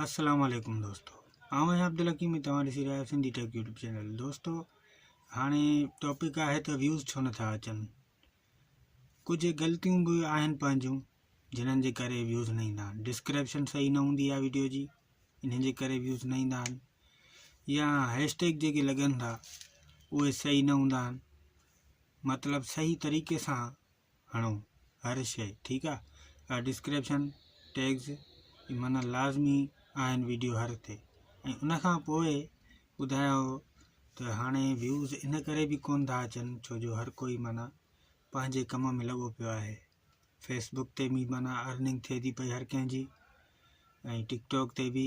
السلام عليڪم دوستو آئون آهيان عبدالحڪيم ۽ توهان ڏسي رهيا آهيو سنڌي ٽيڪ يوٽيوب چينل دوستو هاڻي ٽاپڪ آهي ته ويوز ڇو نٿا اچن ڪجهه غلطيون به آهن پنهنجون جنھن جي ڪري ويوز نه ايندا آهن ڊسڪرپشن صحيح نه هوندي آهي ويڊيو جي انھن جي ڪري ويوز نه ايندا آهن يا هيش ٽيگ جيڪي لڳن ٿا اهي صحيح نه هوندا آهن مطلب صحيح طريقي سان هڻو هر شئي ٺيڪ آ آ ڊسڪريپشن ٽيگز معنيٰ لازمي آهن ويڊيو هر تي ۽ ان کان پوء ٻڌايائو ته هاڻي ويوز ان ڪري به ڪون ٿا اچن ڇو جو هر ڪوئي معنيٰ پنهنجي ڪم ۾ لڳو پيو آهي فيسبوڪ تي به معنيٰ ارننگ ٿئي ٿي پئي هر ڪنهن جي ۽ ٽڪ ٽاڪ تي به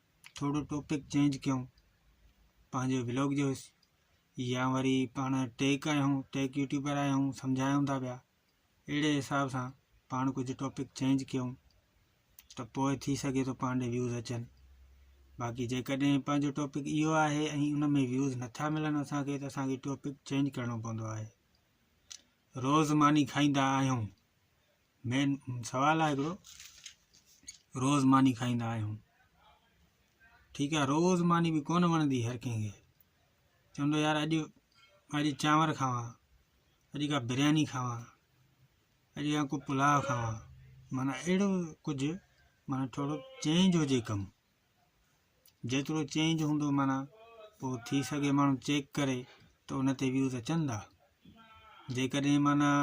ٿورو ٽاپڪ چينج ڪيون پنهنجي بلاگ جو يا وري پاڻ ٽيڪ آهيون ٽيڪ يوٽيوبر آهيون سمجھايون ٿا پيا اهڙي حساب سان پاڻ ڪجهه ٽاپڪ چينج ڪيون ته پوء ٿي سگھي ٿو پاڻ ڏي ويوز اچن باقي جيڪڏهن پنهنجو ٽاپڪ اهو آهي ۽ ان ۾ ويوز نٿا ملن اسانکي ته اسانکي ٽاپڪ چينج ڪرڻو پوندو آهي روز ماني کائيندا آهيون مين سوال آهي هڪڙو روز ماني کائيندا آهيون ٺيڪ آهي روز ماني به ڪونه وڻندي هر ڪنهن کي چوندو يار اڄ اڄ چانور کاواں اڄ کا برياني کاواں اڄ کا ڪو پلاء کاواں مانا اهڙو ڪجهه مانا ٿورو چينج هجي ڪم جيترو چينج هوندو معنيٰ پوء ٿي سگهي ماڻهو چيڪ ڪري ته ان تي ويوز اچن ٿا جيڪڏهن معنيٰ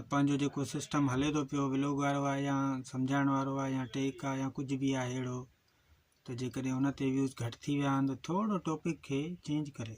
پنهنجو جيڪو سسٽم هلي ٿو پيو ولوگ وارو آهي يا سمجھائڻ وارو آهي يا ٽيڪ آهي يا ڪجھ به آهي اهڙو ته جيڪڏهن ان تي ويوز گھٽ ٿي ويا آهن ته ٿورو ٽاپڪ کي چينج ڪري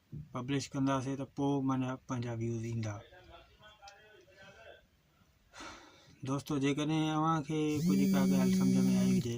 پبلش ڪنداسي ته پو منجا پنهنجا ويوز ايندا دوستو جيڪڏهن اوهان کي ڪجهه ڪا ڳالهه سمجهه ۾ آئي هجي